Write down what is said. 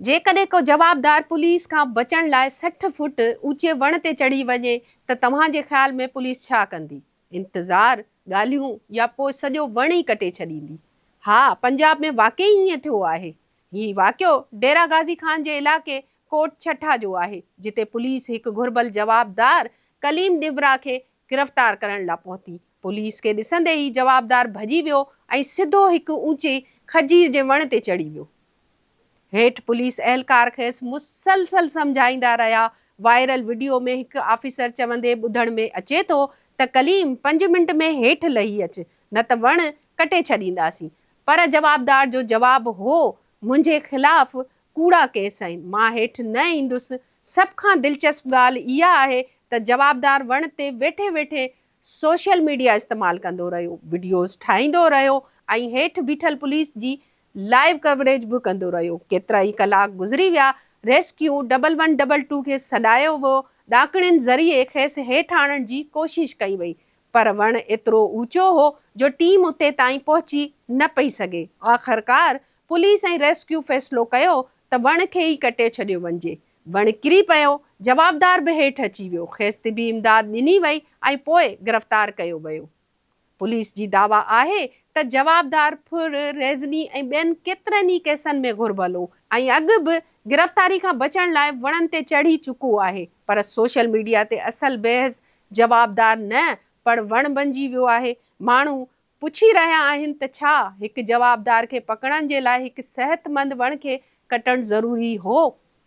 جيڪڏهن ڪو جوابدار پوليس کان بچڻ لاء سٺ فوٽ اوچي وڻ تي چڙهي وڃي ته توهان جي خيال ۾ پوليس ڇا ڪندي؟ انتظار، ڳالهيون يا پوء سڄو وڻ ئي ڪٽي ڇڏيندي؟ ها، پنجاب ۾ واقعي ائين ٿيو آهي. هي واقعو ڊيرا غازي خان جي علائقي ڪوٽ ڇٺا جو آهي، جتي پوليس هڪ گهربل جوابدار ڪليم ڏينڀرا کي گرفتار ڪرڻ لا پهتي. پوليس کي ڏسندي ئي جوابدار ڀڄي ويو ۽ سڌو هڪ اوچي کجير جي وڻ تي چڙهي ويو. هيٺ پوليس اهلڪار کيس مسلسل سمجهائيندا رهيا. وائرل وڊيو ۾ هڪ آفيسر چوندي ٻڌڻ ۾ اچي ٿو ته ڪليم پنج منٽ ۾ هيٺ لهي اچ نه ته وڻ ڪٽي ڇڏينداسين پر جوابدار جو جواب هو منهنجي خلاف ڪوڙا ڪيس آهن مان هيٺ نه ايندس سڀ کان دلچسپ ڳالهه اها آهي ته جوابدار وڻ تي ويٺي ويٺي سوشل ميڊيا استعمال ڪندو رهيو وڊيوز ٺاهيندو رهيو ۽ هيٺ بيٺل پوليس جي لائيو ڪوريج به ڪندو رهيو. ڪيترا ئي ڪلاڪ گذري ويا، rescue double one double two کي سڏايو ويو، ڏاڪڻين ذريعي کيس هيٺ آڻڻ جي ڪوشش ڪئي وئي پر وڻ ايترو اوچو هو جو ٽيم اتي تائين پهچي نه پئي سگهي. آخرڪار پوليس ۽ ريسڪيو فيصلو ڪيو ته وڻ کي ئي ڪٽي ڇڏيو وڃجي. وڻ ڪري پيو، جوابدار به هيٺ اچي ويو، کيس طبي امداد ڏني وئي ۽ پوء گرفتار ڪيو ويو. پوليس جي دعويٰ آهي ته جوابدار ڦر ريزني ۽ ٻين ڪيترن ئي ڪيسن ۾ گهربل هو ۽ اڳ به گرفتاري کان بچڻ لاء وڻن تي چڙهي چڪو آهي پر سوشل ميڊيا تي اصل بيحس جوابدار نه پڻ وڻ بنجي ويو آهي ماڻهو پڇي رهيا آهن ته ڇا هڪ جوابدار کي پڪڙڻ جي لاء هڪ صحتمند وڻ کي ڪٽڻ ضروري هو